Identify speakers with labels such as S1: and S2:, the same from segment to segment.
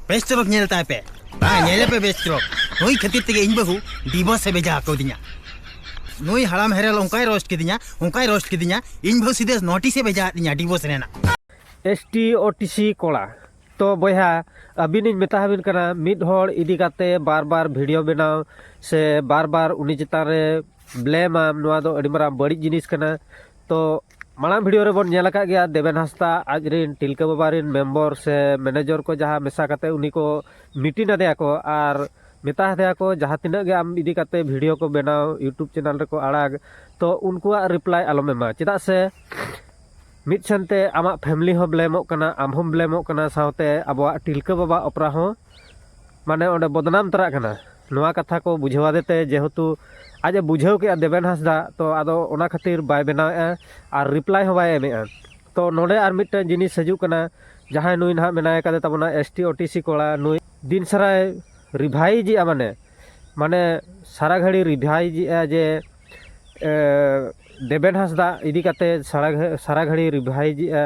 S1: ᱵᱮᱥ ᱛᱚᱨᱚᱯ ᱧᱮᱞ ᱛᱟᱭ ᱯᱮ ᱵᱟᱝ ᱧᱮᱞᱮ ᱯᱮ ᱵᱮᱥ ᱛᱚᱨᱚᱯ ᱱᱩᱭ ᱠᱷᱟᱹᱛᱤᱨ ᱛᱮᱜᱮ ᱤᱧ ᱵᱟᱹᱦᱩ ᱰᱤᱵᱚᱥ ᱮ ᱵᱷᱮᱡᱟ ᱟᱠᱟᱣᱫᱤᱧᱟ ᱱᱩᱭ ᱦᱟᱲᱟᱢ ᱦᱮᱨᱮᱞ ᱚᱱᱠᱟᱭ ᱨᱳᱥᱴ ᱠᱤᱫᱤᱧᱟ ᱚᱱᱠᱟᱭ ᱨᱳᱥᱴ ᱠᱤᱫᱤᱧᱟ ᱤᱧ ᱵᱟᱹᱦᱩ ᱥᱤᱫᱷᱟᱹ ᱱᱳᱴᱤᱥ ᱮ ᱵᱷᱮᱡᱟ ᱟᱫᱤᱧᱟ ᱰᱤᱵᱚᱥ ᱨᱮᱱᱟᱜ S T
S2: O T C ᱠᱚᱲᱟ ᱛᱚ ᱵᱚᱭᱦᱟ ᱟᱹᱵᱤᱱᱤᱧ ᱢᱮᱛᱟ ᱟᱹᱵᱤᱱ ᱠᱟᱱᱟ ᱢᱤᱫ ᱦᱚᱲ ᱤᱫᱤ ᱠᱟᱛᱮ ᱵᱟᱨ ᱵᱟᱨ ᱵᱷᱤᱰᱤᱭᱳ ᱵᱮᱱᱟᱣ ᱥᱮ ᱵᱟᱨ ᱵᱟᱨ ᱩᱱᱤ ᱪᱮᱛᱟᱱ ᱨᱮ ᱵᱞᱮᱢᱟᱢ ᱱᱚᱣᱟ ᱫᱚ ᱟᱹᱰᱤ ᱢᱟᱨᱟᱝ ᱵᱟᱹᱲᱤᱡ ᱡᱤᱱᱤᱥ ᱠᱟᱱᱟ ᱛᱚ ᱢᱟᱲᱟᱝ ᱵᱷᱤᱰᱤᱭᱳ ᱨᱮᱵᱚᱱ ᱧᱮᱞ ᱟᱠᱟᱫ ᱜᱮᱭᱟ ᱫᱮᱵᱮᱱ ᱦᱟᱸᱥᱫᱟ ᱟᱡ ᱨᱮᱱ ᱛᱤᱞᱠᱟᱹ ᱵᱟᱵᱟ ᱨᱮᱱ ᱢᱮᱢᱵᱚᱨ ᱥᱮ ᱢᱮᱱᱮᱡᱚᱨ ᱠᱚ ᱡᱟᱦᱟᱸ ᱢᱮᱥᱟ ᱠᱟᱛᱮ ᱩᱱᱤ ᱠᱚ ᱢᱤᱴᱤᱝ ᱟᱫᱮᱭᱟ ᱠᱚ ᱟᱨ ᱢᱮᱛᱟ ᱦᱟᱫᱮᱭᱟ ᱠᱚ ᱡᱟᱦᱟᱸ ᱛᱤᱱᱟᱹᱜ ᱜᱮ ᱟᱢ ᱤᱫᱤ ᱠᱟᱛᱮ ᱵᱷᱤᱰᱤᱭᱳ ᱠᱚ ᱵᱮᱱᱟᱣ ᱤᱭᱩᱴᱩᱵᱽ ᱪᱮᱱᱮᱞ ᱨᱮᱠᱚ ᱟᱲᱟᱜᱽ ᱛᱚ ᱩᱱᱠᱩᱣᱟᱜ ᱨᱤᱯᱞᱟᱭ ᱟᱞᱚᱢ ᱮᱢᱟ ᱪᱮᱫᱟᱜ ᱥᱮ ᱢᱤᱫ ᱥᱮᱱᱛᱮ ᱟᱢᱟᱜ ᱯᱷᱮᱢᱞᱤ ᱦᱚᱸ ᱵᱞᱮᱢᱚᱜ ᱠᱟᱱᱟ ᱟᱢ ᱦᱚᱸᱢ ᱵᱞᱮᱢᱚᱜ ᱠᱟᱱᱟ ᱥᱟᱶᱛᱮ ᱟᱵᱚᱣᱟᱜ ᱛᱤᱞᱠᱟᱹ ᱵᱟᱵᱟ ᱚᱯᱮᱨᱟ ᱦᱚᱸ ᱢᱟᱱᱮ ᱚᱸᱰᱮ ᱵᱚᱫᱱᱟᱢ ᱛᱚᱨᱟᱜ ᱠᱟᱱᱟ ᱱᱚᱣᱟ ᱠᱟᱛᱷᱟ ᱠᱚ ᱵᱩᱡᱷᱟᱹᱣ ᱟᱫᱮ ᱛᱮ ᱡᱮᱦᱮᱛᱩ ᱟᱡ ᱮ ᱵᱩᱡᱷᱟᱹᱣ ᱠᱮᱜᱼᱟ ᱫᱮᱵᱮᱱ ᱦᱟᱸᱥᱫᱟ ᱛᱚ ᱟᱫᱚ ᱚᱱᱟ ᱠᱷᱟᱹᱛᱤᱨ ᱵᱟᱭ ᱵᱮᱱᱟᱣ ᱮᱜᱼᱟ ᱟᱨ ᱨᱤᱯᱞᱟᱭ ᱦᱚᱸ ᱵᱟᱭ ᱮᱢᱮᱜᱼᱟ ᱛᱚ ᱱᱚᱰᱮ ᱟᱨ ᱢᱤᱫᱴᱮᱱ ᱡᱤᱱᱤᱥ ᱦᱤᱡᱩᱜ ᱠᱟᱱᱟ ᱡᱟᱦᱟᱸᱭ ᱱᱩᱭ ᱱᱟᱦᱟᱜ ᱢᱮᱱᱟᱭ ᱠᱟᱫᱮ ᱛᱟᱵᱚᱱᱟ S T O T C ᱠᱚᱲᱟ ᱱᱩᱭ ᱫᱤᱱ ᱥᱟᱨᱟᱭ ᱨᱤᱵᱷᱟᱭᱤᱡᱽ ᱮᱜᱼᱟ ᱢᱟᱱᱮ ᱢᱟᱱᱮ ᱥᱟᱨᱟ ᱜᱷᱟᱹᱲᱤ ᱨᱤᱵᱷᱟᱭᱤᱡᱽ ᱮᱜᱼᱟ ᱡᱮ ᱫᱮᱵᱮᱱ ᱦᱟᱸᱥᱫᱟ ᱤᱫᱤ ᱠᱟᱛᱮ ᱥᱟᱨᱟ ᱜᱷᱟᱹᱲᱤ ᱨᱤᱵᱷᱟᱭᱤᱡᱽ ᱮᱜᱼᱟ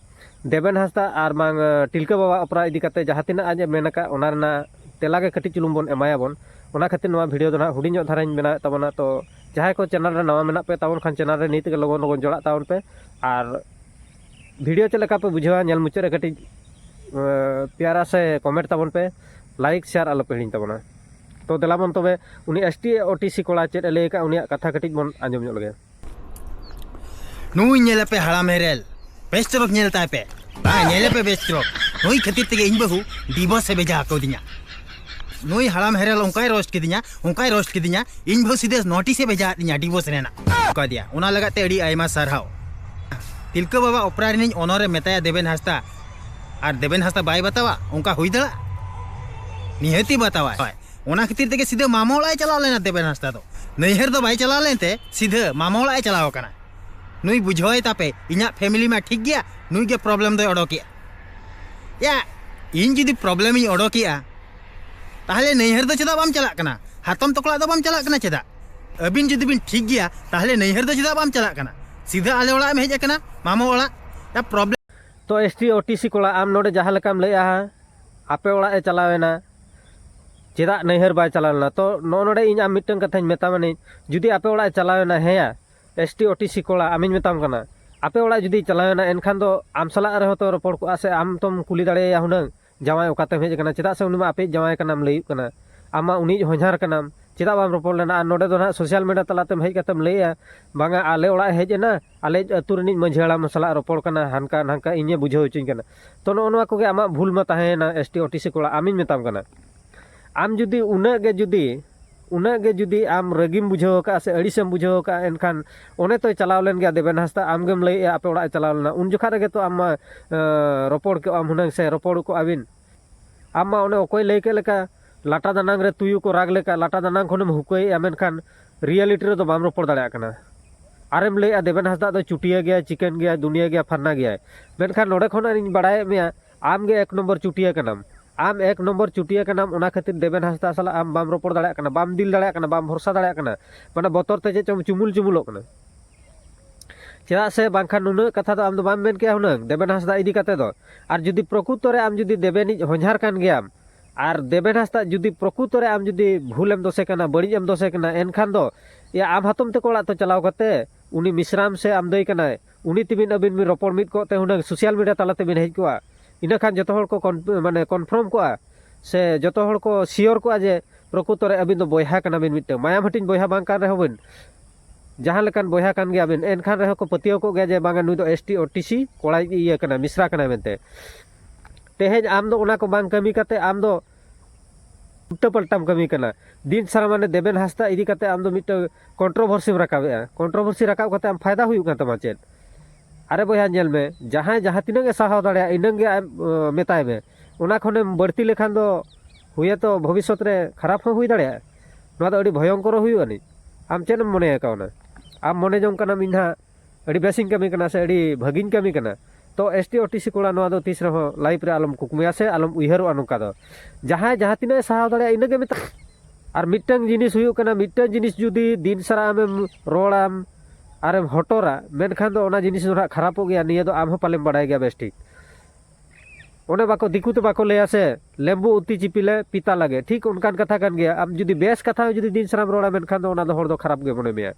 S2: ᱫᱮᱵᱮᱱ ᱦᱟᱸᱥᱫᱟ ᱟᱨ ᱵᱟᱝ ᱴᱤᱞᱠᱟᱹ ᱵᱟᱵᱟ ᱚᱯᱮᱨᱟ ᱤᱫᱤ ᱠᱟᱛᱮ ᱡᱟᱦᱟᱸ ᱛᱤᱱᱟᱹᱜ ᱟᱡ ᱮ ᱢᱮᱱ ᱟᱠᱟᱫ ᱚᱱᱟ ᱨᱮᱱᱟᱜ ᱛᱮᱞᱟ ᱜᱮ ᱠᱟᱹᱴᱤᱡ ᱪᱩᱞᱩᱝ ᱵᱚᱱ ᱮᱢᱟᱭᱟᱵᱚᱱ ᱚᱱᱟ ᱠᱷᱟᱹᱛᱤᱨ ᱱᱚᱣᱟ ᱵᱷᱤᱰᱤᱭᱳ ᱫᱚ ᱱᱟᱦᱟᱜ ᱦᱩᱰᱤᱧ ᱧᱚᱜ ᱫᱷᱟᱨᱟᱧ ᱵᱮᱱᱟᱣᱮᱫ ᱛᱟᱵᱚᱱᱟ ᱛᱚ ᱡᱟᱦᱟᱸᱭ ᱠᱚ ᱪᱮᱱᱮᱞ ᱨᱮ ᱱᱟᱣᱟ ᱢᱮᱱᱟᱜ ᱯᱮ ᱛᱟᱵᱚᱱ ᱠᱷᱟᱱ ᱪᱮᱱᱮᱞ ᱨᱮ ᱱᱤᱛ ᱜᱮ ᱞᱚᱜᱚᱱ ᱞᱚᱜᱚᱱ ᱡᱚᱲᱟᱜ ᱛᱟᱵᱚᱱ ᱯᱮ ᱟᱨ ᱵᱷᱤᱰᱤᱭᱳ ᱪᱮᱫ ᱞᱮᱠᱟ ᱯᱮ ᱵᱩᱡᱷᱟᱹᱣᱟ ᱧᱮᱞ ᱢᱩᱪᱟᱹᱫ ᱨᱮ ᱠᱟᱹᱴᱤᱡ ᱯᱮᱭᱟᱨᱟ ᱥᱮ ᱠᱚᱢᱮᱱᱴ ᱛᱟᱵᱚᱱ ᱯᱮ ᱞᱟᱭᱤᱠ ᱥᱮᱭᱟᱨ ᱟᱞᱚ ᱯᱮ ᱦᱤᱲᱤᱧ ᱛᱟᱵᱚᱱᱟ ᱛᱚ ᱫᱮᱞᱟᱵᱚᱱ ᱛᱚᱵᱮ ᱩᱱᱤ S T O T C ᱠᱚᱲᱟ ᱪᱮᱫ ᱮ ᱞᱟᱹᱭ ᱟᱠᱟᱫ ᱩᱱᱤᱭᱟᱜ ᱠᱟᱛᱷᱟ ᱠᱟᱹᱴᱤᱡ ᱵᱚᱱ ᱟᱸᱡᱚᱢ ᱧᱚᱜ ᱞᱮᱜᱮ ᱱᱩᱭ
S1: ᱧᱮᱞᱮᱯᱮ ᱦᱟᱲᱟᱢ ᱦᱮᱨᱮᱞ ᱵᱮᱥᱴᱨᱚᱠ ᱧᱮᱞ ᱛᱟᱭ ᱯᱮ ᱵᱟᱝ ᱧᱮᱞᱮᱯᱮ ᱵᱮᱥᱴᱨᱚᱠ ᱱᱩᱭ ᱠᱷᱟᱹᱛᱤᱨ ᱛᱮᱜᱮ ᱤᱧ ᱵᱟᱹᱦᱩ ᱰᱤᱵᱚᱥ ᱮ ᱵᱷᱮᱡᱟ ᱟᱠᱟᱣᱫᱤᱧᱟ ᱱᱩᱭ ᱦᱟᱲᱟᱢ ᱦᱮᱨᱮᱞ ᱚᱱᱠᱟᱭ ᱨᱳᱥᱴ ᱠᱤᱫᱤᱧᱟ ᱚᱱᱠᱟᱭ ᱨᱳᱥᱴ ᱠᱤᱫᱤᱧᱟ ᱤᱧ ᱵᱟᱹᱦᱩ ᱥᱤᱫᱷᱟᱹ ᱱᱳᱴᱤᱥ ᱮ ᱵᱷᱮᱡᱟ ᱟᱫᱤᱧᱟ ᱰᱤᱵᱚᱥ ᱨᱮᱱᱟᱜ ᱚᱠᱟ ᱫᱤᱭᱟ ᱚᱱᱟ ᱞᱟᱜᱟᱫ ᱛᱮ ᱟᱹᱰᱤ ᱟᱭᱢᱟ ᱥᱟᱨᱦᱟᱣ ᱛᱤᱞᱠᱟᱹ ᱵᱟᱵᱟ ᱚᱯᱨᱟ ᱨᱤᱱᱤᱡ ᱚᱱᱚᱨ ᱮ ᱢᱮᱛᱟᱭᱟ ᱫᱮᱵᱮᱱ ᱦᱟᱸᱥᱫᱟ ᱟᱨ ᱫᱮᱵᱮᱱ ᱦᱟᱸᱥᱫᱟ ᱵᱟᱭ ᱵᱟᱛᱟᱣᱟ ᱚᱱᱠᱟ ᱦᱩᱭ ᱫᱟᱲᱮᱭᱟᱜᱼᱟ ᱱᱤᱦᱟᱹᱛᱤ ᱵᱟᱛᱟᱣᱟᱭ ᱚᱱᱟ ᱠᱷᱟᱹᱛᱤᱨ ᱛᱮᱜᱮ ᱥᱤᱫᱷᱟᱹ ᱢᱟᱢᱟ ᱚᱲᱟᱜ ᱮ ᱪᱟᱞᱟᱣ ᱞᱮᱱᱟ ᱫᱮᱵᱮᱱ ᱦᱟᱸᱥᱫᱟ ᱫᱚ ᱱᱟᱹᱭᱦᱟᱹᱨ ᱫᱚ ᱵᱟᱭ ᱪᱟᱞᱟᱣ ᱞᱮᱱᱛᱮ ᱥᱤᱫᱷᱟᱹ ᱢᱟᱢᱟ ᱚᱲᱟᱜ ᱮ ᱪᱟᱞᱟᱣ ᱟᱠᱟᱱᱟ ᱱᱩᱭ ᱵᱩᱡᱷᱟᱹᱣᱟᱭ ᱛᱟᱯᱮ ᱤᱧᱟᱹᱜ ᱯᱷᱮᱢᱤᱞᱤ ᱢᱟ ᱴᱷᱤᱠ ᱜᱮᱭᱟ ᱱᱩᱭ ᱜᱮ ᱯᱨᱚᱵᱞᱮᱢ ᱫᱚᱭ ᱚᱰᱚᱠᱮᱜᱼᱟ ᱭᱟ ᱤᱧ ᱡᱩᱫᱤ ᱯᱨᱚᱵᱞᱮᱢ ᱤᱧ ᱚᱰᱚᱠᱮᱜᱼᱟ ᱛᱟᱦᱞᱮ ᱱᱟᱹᱭᱦᱟᱹᱨ ᱫᱚ ᱪᱮᱫᱟᱜ ᱵᱟᱢ ᱪᱟᱞᱟᱜ ᱠᱟᱱᱟ ᱦᱟᱛᱚᱢ ᱛᱚᱠᱚᱲᱟᱜ ᱫᱚ ᱵᱟᱢ ᱪᱟᱞᱟᱜ ᱠᱟᱱᱟ ᱪᱮᱫᱟᱜ ᱟᱹᱵᱤᱱ ᱡᱩᱫᱤ ᱵᱤᱱ ᱴᱷᱤᱠ ᱜᱮᱭᱟ ᱛᱟᱦᱞᱮ ᱱᱟᱹᱭᱦᱟᱹᱨ ᱫᱚ ᱪᱮᱫᱟᱜ ᱵᱟᱢ ᱪᱟᱞᱟᱜ ᱠᱟᱱᱟ ᱥᱤᱫᱷᱟᱹ ᱟᱞᱮ ᱚᱲᱟᱜ ᱮᱢ ᱦᱮᱡ ᱟᱠᱟᱱᱟ ᱢᱟᱢᱟ ᱚᱲᱟᱜ ᱭᱟ ᱯᱨᱚᱵᱞᱮᱢ ᱛᱚ S T O T
S2: C ᱠᱚᱲᱟ ᱟᱢ ᱱᱚᱰᱮ ᱡᱟᱦᱟᱸ ᱞᱮᱠᱟᱢ ᱞᱟᱹᱭᱮᱜᱼᱟ ᱟᱯᱮ ᱚᱲᱟᱜ ᱮ ᱪᱟᱞᱟᱣᱮᱱᱟ ᱪᱮᱫᱟᱜ ᱱᱟᱹᱭᱦᱟᱹᱨ ᱵᱟᱭ ᱪᱟᱞᱟᱣ ᱞᱮᱱᱟ ᱛᱚ ᱱᱚᱜᱼᱚ ᱱᱚᱰᱮ ᱤᱧ ᱟᱢ ᱢᱤᱫᱴᱟᱝ ᱠᱟᱛᱷᱟᱧ ᱢᱮᱛᱟᱢᱟᱹᱱᱤᱧ ᱡᱩᱫᱤ ᱟᱯᱮ ᱚᱲᱟᱜ ᱮ ᱪᱟᱞᱟᱣᱮᱱᱟ ᱦᱮᱸᱭᱟ S T O T C ᱠᱚᱲᱟ ᱟᱢᱤᱧ ᱢᱮᱛᱟᱢ ᱠᱟᱱᱟ ᱟᱯᱮ ᱚᱲᱟᱜ ᱡᱩᱫᱤ ᱪᱟᱞᱟᱣᱮᱱᱟ ᱮᱱᱠᱷᱟᱱ ᱫᱚ ᱟᱢ ᱥᱟᱞᱟᱜ ᱨᱮᱦᱚᱸ ᱛᱚ ᱨᱚᱯᱚᱲ ᱠᱚᱜᱼᱟ ᱥᱮ ᱟᱢ ᱛᱚᱢ ᱠᱩᱞᱤ ᱫᱟᱲᱮᱭᱟᱭᱟ ᱦᱩᱱᱟᱹᱝ ᱡᱟᱶᱟᱭ ᱚᱠᱟᱛᱮᱢ ᱦᱮᱡ ᱟᱠᱟᱱᱟ ᱪᱮᱫᱟᱜ ᱥᱮ ᱩᱱᱤ ᱢᱟ ᱟᱯᱮᱭᱤᱡ ᱡᱟᱶᱟᱭ ᱠᱟᱱᱟᱢ ᱞᱟᱹᱭᱩᱜ ᱠᱟᱱᱟ ᱟᱢ ᱢᱟ ᱩᱱᱤᱭᱤᱡ ᱦᱚᱧᱦᱟᱨ ᱠᱟᱱᱟᱢ ᱪᱮᱫᱟᱜ ᱵᱟᱢ ᱨᱚᱯᱚᱲ ᱞᱮᱱᱟ ᱟᱨ ᱱᱚᱰᱮ ᱫᱚ ᱱᱟᱦᱟᱜ ᱥᱳᱥᱟᱞ ᱢᱤᱰᱤᱭᱟ ᱛᱟᱞᱟᱛᱮᱢ ᱦᱮᱡ ᱠᱟᱛᱮᱢ ᱞᱟᱹᱭᱮᱜᱼᱟ ᱵᱟᱝᱟ ᱟᱞᱮ ᱚᱲᱟᱜ ᱮ ᱦᱮᱡ ᱮᱱᱟ ᱟᱞᱮ ᱟᱹᱛᱩ ᱨᱤᱱᱤᱡ ᱢᱟᱹᱡᱷᱤ ᱦᱟᱲᱟᱢ ᱥᱟᱞᱟᱜ ᱨᱚᱯᱚᱲ ᱠᱟᱱᱟ ᱦᱟᱱᱠᱟ ᱱᱷᱟᱝᱠᱟ ᱤᱧᱮ ᱵᱩᱡᱷᱟᱹᱣ ᱦᱚᱪᱚᱧ ᱠᱟᱱᱟ ᱛᱚ ᱱᱚᱜᱼᱚ ᱱᱚᱣᱟ ᱠᱚᱜᱮ ᱟᱢᱟᱜ ᱵᱷᱩᱞ ᱢᱟ ᱛᱟᱦᱮᱸᱭᱮᱱᱟ S T O T C ᱠᱚᱲᱟ ᱟᱢᱤᱧ ᱢᱮᱛᱟᱢ ᱠᱟᱱᱟ ᱟᱢ ᱡᱩᱫᱤ ᱩᱱᱟᱹᱜ ᱜᱮ ᱡᱩᱫᱤ ᱩᱱᱟᱹᱜ ᱜᱮ ᱡᱩᱫᱤ ᱟᱢ ᱨᱟᱹᱜᱤᱢ ᱵᱩᱡᱷᱟᱹᱣ ᱟᱠᱟᱫᱼᱟ ᱥᱮ ᱟᱹᱲᱤᱥᱮᱢ ᱵᱩᱡᱷᱟᱹᱣ ᱟᱠᱟᱫᱼᱟ ᱮᱱᱠᱷᱟᱱ ᱚᱱᱮ ᱛᱚᱭ ᱪᱟᱞᱟᱣ ᱞᱮᱱ ᱜᱮᱭᱟ ᱫᱮᱵᱮᱱ ᱦᱟᱸᱥᱫᱟ ᱟᱢ ᱜᱮᱢ ᱞᱟᱹᱭᱮᱫᱼᱟ ᱟᱯᱮ ᱚᱲᱟᱜ ᱮ ᱪᱟᱞᱟᱣ ᱞᱮᱱᱟ ᱩᱱ ᱡᱚᱠᱷᱟᱱ ᱨᱮᱜᱮ ᱛᱚ ᱟᱢ ᱢᱟ ᱨᱚᱯᱚᱲ ᱠᱮᱫᱼᱟᱢ ᱦᱩᱱᱟᱹᱝ ᱥᱮ ᱨᱚᱯᱚᱲ ᱠᱚᱜᱼᱟ ᱵᱤᱱ ᱟᱢ ᱢᱟ ᱚᱱᱮ ᱚᱠᱚᱭ ᱞᱟᱹᱭ ᱠᱮᱫ ᱞᱮᱠᱟ ᱞᱟᱴᱟ ᱫᱟᱱᱟᱝ ᱨᱮ ᱛᱩᱭᱩ ᱠᱚ ᱨᱟᱜᱽ ᱞᱮᱠᱟ ᱞᱟᱴᱟ ᱫᱟᱱᱟᱝ ᱠᱷᱚᱱᱮᱢ ᱦᱩᱠᱟᱹᱭᱮᱫᱼᱟ ᱢᱮᱱᱠᱷᱟᱱ ᱨᱤᱭᱟᱞᱤᱴᱤ ᱨᱮᱫᱚ ᱵᱟᱢ ᱨᱚᱯᱚᱲ ᱫᱟᱲᱮᱭᱟᱜ ᱠᱟᱱᱟ ᱟᱨᱮᱢ ᱞᱟᱹᱭᱮᱫᱼᱟ ᱫᱮᱵᱮᱱ ᱦᱟᱸᱥᱫᱟ ᱫᱚ ᱪᱩᱴᱤᱭᱟᱹ ᱜᱮᱭᱟᱭ ᱪᱤᱠᱮᱱ ᱜᱮᱭᱟᱭ ᱫᱩᱱᱤᱭᱟᱹ ᱜᱮᱭᱟᱭ ᱯᱷᱟᱨᱱᱟ ᱜᱮᱭᱟᱭ ᱢᱮᱱᱠᱷᱟᱱ ᱱᱚᱰᱮ ᱠᱷᱚᱱᱟᱜ ᱤᱧ ᱵᱟᱲᱟᱭᱮᱫ ᱢᱮᱭᱟ ᱟᱢ ᱜᱮ ᱮᱠ ᱱᱚᱢᱵᱚᱨ ᱪᱩᱴᱤᱭᱟᱹ ᱠᱟᱱᱟᱢ ᱟᱢ ᱮᱠ ᱱᱚᱢᱵᱚᱨ ᱪᱩᱴᱤᱭᱟᱹ ᱠᱟᱱᱟᱢ ᱚᱱᱟ ᱠᱷᱟᱹᱛᱤᱨ ᱫᱮᱵᱮᱱ ᱦᱟᱸᱥᱫᱟ ᱥᱟᱞᱟᱜ ᱟᱢ ᱵᱟᱢ ᱨᱚᱯᱚᱲ ᱫᱟᱲᱮᱭᱟᱜ ᱠᱟᱱᱟ ᱵᱟᱢ ᱫᱤᱞ ᱫᱟᱲᱮᱭᱟᱜ ᱠᱟᱱᱟ ᱵᱟᱢ ᱵᱷᱚᱨᱥᱟ ᱫᱟᱲᱮᱭᱟᱜ ᱠᱟᱱᱟ ᱢᱟᱱᱮ ᱵᱚᱛᱚᱨ ᱛᱮ ᱪᱮᱫ ᱪᱚᱢ ᱪᱩᱢᱩᱞ ᱪᱩᱢᱩᱞᱚᱜ ᱠᱟᱱᱟ ᱪᱮᱫᱟᱜ ᱥᱮ ᱵᱟᱝᱠᱷᱟᱱ ᱱᱩᱱᱟᱹᱜ ᱠᱟᱛᱷᱟ ᱫᱚ ᱟᱢ ᱫᱚ ᱵᱟᱢ ᱢᱮᱱ ᱠᱮᱭᱟ ᱦᱩᱱᱟᱹᱝ ᱫᱮᱵᱮᱱ ᱦᱟᱸᱥᱫᱟ ᱤᱫᱤ ᱠᱟᱛᱮ ᱫᱚ ᱟᱨ ᱡᱩᱫᱤ ᱯᱨᱚᱠᱩᱛᱚ ᱨᱮ ᱟᱢ ᱡᱩᱫᱤ ᱫᱮᱵᱮᱱᱤᱡ ᱦᱚᱧᱦᱟᱨ ᱠᱟᱱ ᱜᱮᱭᱟᱢ ᱟᱨ ᱫᱮᱵᱮᱱ ᱦᱟᱸᱥᱫᱟ ᱡᱩᱫᱤ ᱯᱨᱚᱠᱩᱛᱚ ᱨᱮ ᱟᱢ ᱡᱩᱫᱤ ᱵᱷᱩᱞᱮᱢ ᱫᱚᱥᱮ ᱠᱟᱱᱟ ᱵᱟᱹᱲᱤᱡ ᱮᱢ ᱫᱚᱥᱮ ᱠᱟᱱᱟ ᱮᱱᱠᱷᱟᱱ ᱫᱚ ᱮᱭᱟ ᱟᱢ ᱦᱟᱛᱚᱢ ᱛᱮᱠᱚ ᱚᱲᱟᱜ ᱛᱮ ᱪᱟᱞᱟᱣ ᱠᱟᱛᱮ ᱩᱱᱤ ᱢᱤᱥᱨᱟᱢ ᱥᱮ ᱟᱢ ᱫᱟᱹᱭ ᱠᱟᱱᱟᱭ ᱩᱱᱤ ᱛᱮᱵᱤᱱ ᱟᱹᱵᱤᱱ ᱵᱤᱱ ᱨᱚᱯᱚᱲ ᱢᱤᱫ ᱠᱚᱜ ᱛᱮ ᱦᱩᱱᱟᱹᱝ ᱥᱳᱥᱟᱞ ᱢᱤᱰᱤᱭᱟ ᱛᱟᱞᱟ ᱛᱮᱵᱤᱱ ᱦᱮᱡ ᱠᱚᱜᱼᱟ ᱤᱱᱟᱹ ᱠᱷᱟᱱ ᱡᱚᱛᱚ ᱦᱚᱲ ᱠᱚ ᱢᱟᱱᱮ ᱠᱚᱱᱯᱷᱟᱨᱢ ᱠᱚᱜᱼᱟ ᱥᱮ ᱡᱚᱛᱚ ᱦᱚᱲ ᱠᱚ ᱥᱤᱭᱳᱨ ᱠᱚᱜᱼᱟ ᱡᱮ ᱯᱨᱚᱠᱩᱛᱚ ᱨᱮ ᱟᱹᱵᱤᱱ ᱫᱚ ᱵᱚᱭᱦᱟ ᱠᱟᱱᱟ ᱵᱤᱱ ᱢᱤᱫᱴᱟᱝ ᱢᱟᱭᱟᱢ ᱦᱟᱹᱴᱤᱧ ᱵᱚᱭᱦᱟ ᱵᱟᱝ ᱠᱟᱱ ᱨᱮᱦᱚᱸ ᱵᱤᱱ ᱡᱟᱦᱟᱸ ᱞᱮᱠᱟᱱ ᱵᱚᱭᱦᱟ ᱠᱟᱱ ᱜᱮᱭᱟᱵᱤᱱ ᱮᱱᱠᱷᱟᱱ ᱨᱮᱦᱚᱸ ᱠᱚ ᱯᱟᱹᱛᱭᱟᱹᱣ ᱠᱚᱜ ᱜᱮᱭᱟ ᱡᱮ ᱵᱟᱝᱟ ᱱᱩᱭ ᱫᱚ S T O T C ᱠᱚᱲᱟᱭ ᱤᱭᱟᱹ ᱠᱟᱱᱟ ᱢᱤᱥᱨᱟ ᱠᱟᱱᱟᱭ ᱢᱮᱱᱛᱮ ᱛᱮᱦᱮᱧ ᱟᱢ ᱫᱚ ᱚᱱᱟ ᱠᱚ ᱵᱟᱝ ᱠᱟᱹᱢᱤ ᱠᱟᱛᱮ ᱟᱢ ᱫᱚ ᱩᱞᱴᱟᱹ ᱯᱟᱞᱴᱟᱢ ᱠᱟᱹᱢᱤ ᱠᱟᱱᱟ ᱫᱤᱱ ᱥᱟᱨᱟ ᱢᱟᱱᱮ ᱫᱮᱵᱮᱱ ᱦᱟᱸᱥᱫᱟ ᱤᱫᱤ ᱠᱟᱛᱮ ᱟᱢ ᱫᱚ ᱢᱤᱫᱴᱟᱝ ᱠᱚᱱᱴᱨᱳᱵᱷᱟᱨᱥᱤᱢ ᱨᱟᱠᱟᱵᱮᱜᱼᱟ ᱠᱚᱱᱴᱨᱳᱵᱷᱟᱨᱥᱤ ᱨᱟᱠᱟᱵ ᱠᱟᱛᱮ ᱟᱢ ᱯᱷᱟᱭᱫᱟ ᱦᱩᱭᱩᱜ ᱠᱟᱱ ᱛᱟᱢᱟ ᱪᱮᱫ ᱟᱨᱮ ᱵᱚᱭᱦᱟ ᱧᱮᱞ ᱢᱮ ᱡᱟᱦᱟᱸᱭ ᱡᱟᱦᱟᱸ ᱛᱤᱱᱟᱹᱜ ᱮ ᱥᱟᱦᱟᱣ ᱫᱟᱲᱮᱭᱟᱜᱼᱟ ᱤᱱᱟᱹᱜ ᱜᱮ ᱟᱡ ᱢᱮᱛᱟᱭ ᱢᱮ ᱚᱱᱟ ᱠᱷᱚᱱᱮᱢ ᱵᱟᱹᱲᱛᱤ ᱞᱮᱠᱷᱟᱱ ᱫᱚ ᱦᱩᱭᱮᱛᱚ ᱵᱷᱚᱵᱤᱥᱥᱚᱛ ᱨᱮ ᱠᱷᱟᱨᱟᱯ ᱦᱚᱸ ᱦᱩᱭ ᱫᱟᱲᱮᱭᱟᱜᱼᱟ ᱱᱚᱣᱟ ᱫᱚ ᱟᱹᱰᱤ ᱵᱷᱚᱭᱚᱝᱠᱚᱨ ᱦᱩᱭᱩᱜ ᱟᱹᱱᱤᱡ ᱟᱢ ᱪᱮᱫ ᱮᱢ ᱢᱚᱱᱮ ᱠᱟᱣᱱᱟ ᱟᱢ ᱢᱚᱱᱮ ᱡᱚᱝ ᱠᱟᱱᱟᱢ ᱤᱧ ᱦᱟᱸᱜ ᱟᱹᱰᱤ ᱵᱮᱥᱤᱧ ᱠᱟᱹᱢᱤ ᱠᱟᱱᱟ ᱥᱮ ᱟᱹᱰᱤ ᱵᱷᱟᱹᱜᱤᱧ ᱠᱟᱹᱢᱤ ᱠᱟᱱᱟ ᱛᱚ S T O T C ᱠᱚᱲᱟ ᱱᱚᱣᱟ ᱫᱚ ᱛᱤᱥ ᱨᱮᱦᱚᱸ ᱞᱟᱭᱤᱯᱷ ᱨᱮ ᱟᱞᱚᱢ ᱠᱩᱠᱢᱩᱭᱟ ᱥᱮ ᱟᱞᱚᱢ ᱩᱭᱦᱟᱹᱨᱚᱜᱼᱟ ᱱᱚᱝᱠᱟ ᱫᱚ ᱡᱟᱦᱟᱸᱭ ᱡᱟᱦᱟᱸ ᱛᱤᱱᱟᱹᱜ ᱥᱟᱦᱟᱣ ᱫᱟᱲᱮᱭᱟᱜᱼᱟ ᱤᱱᱟᱹᱜᱮ ᱢᱮᱛᱟᱜ ᱟᱨ ᱢᱤᱫᱴᱟᱝ ᱡᱤᱱᱤᱥ ᱦᱩᱭᱩᱜ ᱠᱟᱱᱟ ᱢᱤᱫᱴᱟᱝ ᱡᱤᱱᱤᱥ ᱡᱩᱫᱤ ᱫᱤᱱ ᱥᱟᱨᱟ ᱟᱢᱮᱢ ᱨᱚᱲᱟᱢ ᱟᱨᱮᱢ ᱦᱚᱴᱚᱨᱟ ᱢᱮᱱᱠᱷᱟᱱ ᱫᱚ ᱚᱱᱟ ᱡᱤᱱᱤᱥ ᱫᱚ ᱦᱟᱸᱜ ᱠᱷᱟᱨᱟᱯᱚᱜ ᱜᱮᱭᱟ ᱱᱤᱭᱟᱹ ᱫᱚ ᱟᱢ ᱦᱚᱸ ᱯᱟᱞᱮᱢ ᱵᱟᱲᱟᱭ ᱜᱮᱭᱟ ᱵᱮᱥ ᱴᱷᱤᱠ ᱚᱱᱮ ᱵᱟᱠᱚ ᱫᱤᱠᱩ ᱛᱮ ᱵᱟᱠᱚ ᱞᱟᱹᱭᱟ ᱥᱮ ᱞᱮᱢᱵᱩ ᱩᱛᱤ ᱪᱤᱯᱤᱞᱮ ᱯᱤᱛᱟ ᱞᱟᱜᱮ ᱴᱷᱤᱠ ᱚᱱᱠᱟᱱ ᱠᱟᱛᱷᱟ ᱠᱟᱱ ᱜᱮᱭᱟ ᱟᱢ ᱡᱩᱫᱤ ᱵᱮᱥ ᱠᱟᱛᱷᱟ ᱡᱩᱫᱤ ᱫᱤᱱ ᱥᱟᱨᱟᱢ ᱨᱚᱲᱟ ᱢᱮᱱᱠᱷᱟᱱ ᱫᱚ ᱚᱱᱟ ᱫᱚ ᱦᱚᱲ ᱫᱚ ᱠᱷᱟᱨᱟᱯ ᱜᱮ ᱢᱚᱱᱮ ᱢᱮᱭᱟ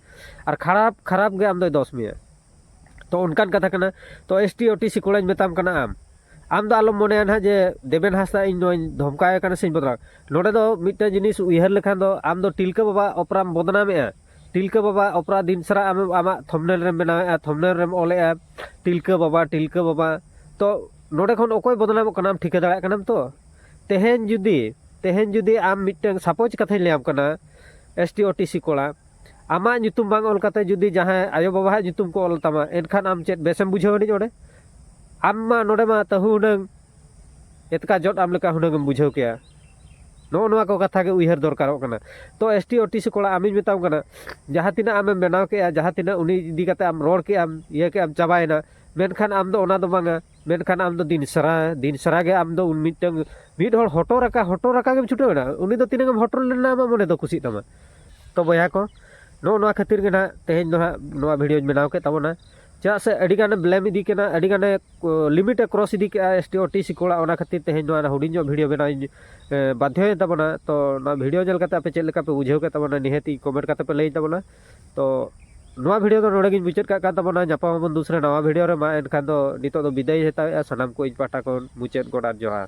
S2: ᱟᱨ ᱠᱷᱟᱨᱟᱯ ᱠᱷᱟᱨᱟᱯ ᱜᱮ ᱟᱢ ᱫᱚᱭ ᱫᱚᱥ ᱢᱮᱭᱟ ᱛᱚ ᱚᱱᱠᱟᱱ ᱠᱟᱛᱷᱟ ᱠᱟᱱᱟ ᱛᱚ S T O T C ᱠᱚᱲᱟᱧ ᱢᱮᱛᱟᱢ ᱠᱟᱱᱟ ᱟᱢ ᱟᱢ ᱫᱚ ᱟᱞᱚᱢ ᱢᱚᱱᱮᱭᱟ ᱱᱟᱦᱟᱜ ᱡᱮ ᱫᱮᱵᱮᱱ ᱦᱟᱸᱥᱫᱟ ᱤᱧ ᱱᱚᱣᱟᱧ ᱫᱷᱚᱢᱠᱟᱣᱮ ᱠᱟᱱᱟ ᱥᱮᱧ ᱵᱚᱫᱱᱟᱢ ᱱᱚᱰᱮ ᱫᱚ ᱢᱤᱫᱴᱮᱱ ᱡᱤᱱᱤᱥ ᱩᱭᱦᱟᱹᱨ ᱞᱮᱠᱷᱟᱱ ᱫᱚ ᱟᱢ ᱫᱚ ᱛᱤᱞᱠᱟᱹ ᱵᱟᱵᱟ ᱚᱯᱮᱨᱟᱢ ᱵᱚᱫᱱᱟᱢᱮᱜᱼᱟ ᱴᱤᱞᱠᱟᱹ ᱵᱟᱵᱟ ᱚᱯᱮᱨᱟ ᱫᱤᱱ ᱥᱟᱨᱟ ᱟᱢ ᱟᱢᱟᱜ ᱛᱷᱚᱢᱱᱮᱞ ᱨᱮᱢ ᱵᱮᱱᱟᱣᱮᱫᱼᱟ ᱛᱷᱚᱢᱱᱮᱞ ᱨᱮᱢ ᱚᱞᱮᱫᱼᱟ ᱴᱤᱞᱠᱟᱹ ᱵᱟᱵᱟ ᱴᱤᱞᱠᱟᱹ ᱵᱟᱵᱟ ᱛᱚ ᱱᱚᱰᱮ ᱠᱷᱚᱱ ᱚᱠᱚᱭ ᱵᱚᱫᱱᱟᱢᱚᱜ ᱠᱟᱱᱟ ᱴᱷᱤᱠᱟᱹ ᱫᱟᱲᱮᱭᱟᱜ ᱠᱟᱱᱟᱢ ᱛᱚ ᱛᱮᱦᱮᱧ ᱡᱩᱫᱤ ᱛᱮᱦᱮᱧ ᱡᱩᱫᱤ ᱟᱢ ᱢᱤᱫᱴᱟᱝ ᱥᱟᱯᱳᱡᱽ ᱠᱟᱛᱷᱟᱧ ᱞᱟᱹᱭᱟᱢ ᱠᱟᱱᱟ S T O T C ᱠᱚᱲᱟ ᱟᱢᱟᱜ ᱧᱩᱛᱩᱢ ᱵᱟᱝ ᱚᱞ ᱠᱟᱛᱮ ᱡᱩᱫᱤ ᱡᱟᱦᱟᱸᱭ ᱟᱭᱳ ᱵᱟᱵᱟᱣᱟᱜ ᱧᱩᱛᱩᱢ ᱠᱚ ᱚᱞ ᱛᱟᱢᱟ ᱮᱱᱠᱷᱟᱱ ᱟᱢ ᱪᱮᱫ ᱵᱮᱥᱮᱢ ᱵᱩᱡᱷᱟᱹᱣ ᱟᱹᱱᱤᱡ ᱚᱸᱰᱮ ᱟᱢ ᱢᱟ ᱱᱚᱰᱮ ᱢᱟ ᱛᱟᱹᱦᱩ ᱦᱩᱱᱟᱹᱝ ᱮᱛᱠᱟ ᱡᱚᱫ ᱟᱢ ᱞᱮᱠᱟ ᱦᱩᱱᱟᱹᱝ ᱮᱢ ᱵᱩᱡᱷᱟᱹᱣ ᱠᱮᱭᱟ ᱱᱚᱜᱼᱚ ᱱᱚᱣᱟ ᱠᱚ ᱠᱟᱛᱷᱟ ᱜᱮ ᱩᱭᱦᱟᱹᱨ ᱫᱚᱨᱠᱟᱨᱚᱜ ᱠᱟᱱᱟ ᱛᱚ S T O T C ᱠᱚᱲᱟ ᱟᱢᱤᱧ ᱢᱮᱛᱟᱢ ᱠᱟᱱᱟ ᱡᱟᱦᱟᱸ ᱛᱤᱱᱟᱹᱜ ᱟᱢᱮᱢ ᱵᱮᱱᱟᱣ ᱠᱮᱜᱼᱟ ᱡᱟᱦᱟᱸ ᱛᱤᱱᱟᱹᱜ ᱩᱱᱤ ᱤᱫᱤ ᱠᱟᱛᱮ ᱟᱢ ᱨᱚᱲ ᱠᱮᱜ ᱟᱢ ᱤᱭᱟᱹ ᱠᱮᱜ ᱟᱢ ᱪᱟᱵᱟᱭᱮᱱᱟ ᱢᱮᱱᱠᱷᱟᱱ ᱟᱢ ᱫᱚ ᱚᱱᱟ ᱫᱚ ᱵᱟᱝᱟ ᱢᱮᱱᱠᱷᱟᱱ ᱟᱢ ᱫᱚ ᱫᱤᱱ ᱥᱟᱨᱟ ᱫᱤᱱ ᱥᱟᱨᱟ ᱜᱮ ᱟᱢ ᱫᱚ ᱩᱱ ᱢᱤᱫᱴᱟᱹᱝ ᱢᱤᱫ ᱦᱚᱲ ᱦᱚᱴᱚᱨ ᱟᱠᱟ ᱦᱚᱴᱚᱨ ᱟᱠᱟ ᱜᱮᱢ ᱪᱷᱩᱴᱟᱹᱣ ᱮᱱᱟ ᱩᱱᱤ ᱫᱚ ᱛᱤᱱᱟᱹᱜ ᱮᱢ ᱦᱚᱴᱚᱨ ᱞᱮᱱᱟ ᱟᱢᱟᱜ ᱢᱚᱱᱮ ᱫᱚ ᱠᱩᱥᱤᱜ ᱛᱟᱢᱟ ᱛᱚ ᱵᱚᱭᱦᱟ ᱠᱚ ᱱᱚᱜᱼᱚ ᱱᱚᱣᱟ ᱠᱷᱟᱹᱛᱤᱨ ᱜᱮ ᱱᱟᱜ ᱛᱮᱦᱮᱧ ᱫᱚ ᱦᱟᱸᱜ ᱱᱚᱣᱟ ᱵᱷᱤᱰᱭᱳᱧ ᱵᱮᱱᱟᱣ ᱠᱮᱫ ᱛᱟᱵᱚᱱᱟ ᱪᱮᱫᱟᱜ ᱥᱮ ᱟᱹᱰᱤ ᱜᱟᱱᱮ ᱵᱞᱮᱢ ᱤᱫᱤ ᱠᱟᱱᱟ ᱟᱹᱰᱤ ᱜᱟᱱᱮ ᱞᱤᱢᱤᱴ ᱮ ᱠᱨᱚᱥ ᱤᱫᱤ ᱠᱮᱜᱼᱟ S T O T C ᱠᱚᱲᱟ ᱚᱱᱟ ᱠᱷᱟᱹᱛᱤᱨ ᱛᱮᱦᱮᱧ ᱱᱚᱣᱟ ᱦᱩᱰᱤᱧ ᱧᱚᱜ ᱵᱷᱤᱰᱤᱭᱳ ᱵᱮᱱᱟᱣ ᱤᱧ ᱵᱟᱫᱽᱫᱷᱚᱭᱮᱱ ᱛᱟᱵᱚᱱᱟ ᱛᱚ ᱱᱚᱣᱟ ᱵᱷᱤᱰᱤᱭᱳ ᱧᱮᱞ ᱠᱟᱛᱮ ᱟᱯᱮ ᱪᱮᱫ ᱞᱮᱠᱟ ᱯᱮ ᱵᱩᱡᱷᱟᱹᱣ ᱠᱮᱫ ᱛᱟᱵᱚᱱᱟ ᱱᱤᱦᱟᱹᱛᱤ ᱠᱚᱢᱮᱱᱴ ᱠᱟᱛᱮ ᱯᱮ ᱞᱟᱹᱭ ᱛᱟᱵᱚᱱᱟ ᱛᱚ ᱱᱚᱣᱟ ᱵᱷᱤᱰᱤᱭᱳ ᱫᱚ ᱱᱚᱰᱮ ᱜᱤᱧ ᱢᱩᱪᱟᱹᱫ ᱠᱟᱜ ᱠᱟᱱ ᱛᱟᱵᱚᱱᱟ ᱧᱟᱯᱟᱢ ᱟᱵᱚᱱ ᱫᱩᱥᱨᱟ ᱱᱟᱣᱟ ᱵᱷᱤᱰᱤᱭᱳ ᱨᱮ ᱢᱟ ᱮᱱᱠᱷᱟᱱ ᱫᱚ ᱱᱤᱛᱚᱜ ᱫᱚ ᱵᱤᱫᱟᱹᱭ ᱦᱟᱛᱟᱣᱮᱜᱼᱟ ᱥᱟᱱᱟᱢ ᱠᱚ ᱤᱧ ᱯᱟᱦᱴᱟ ᱠᱷᱚᱱ ᱢᱩᱪᱟᱹᱫ ᱜᱚᱰ ᱟᱨ ᱡᱚᱦᱟᱨ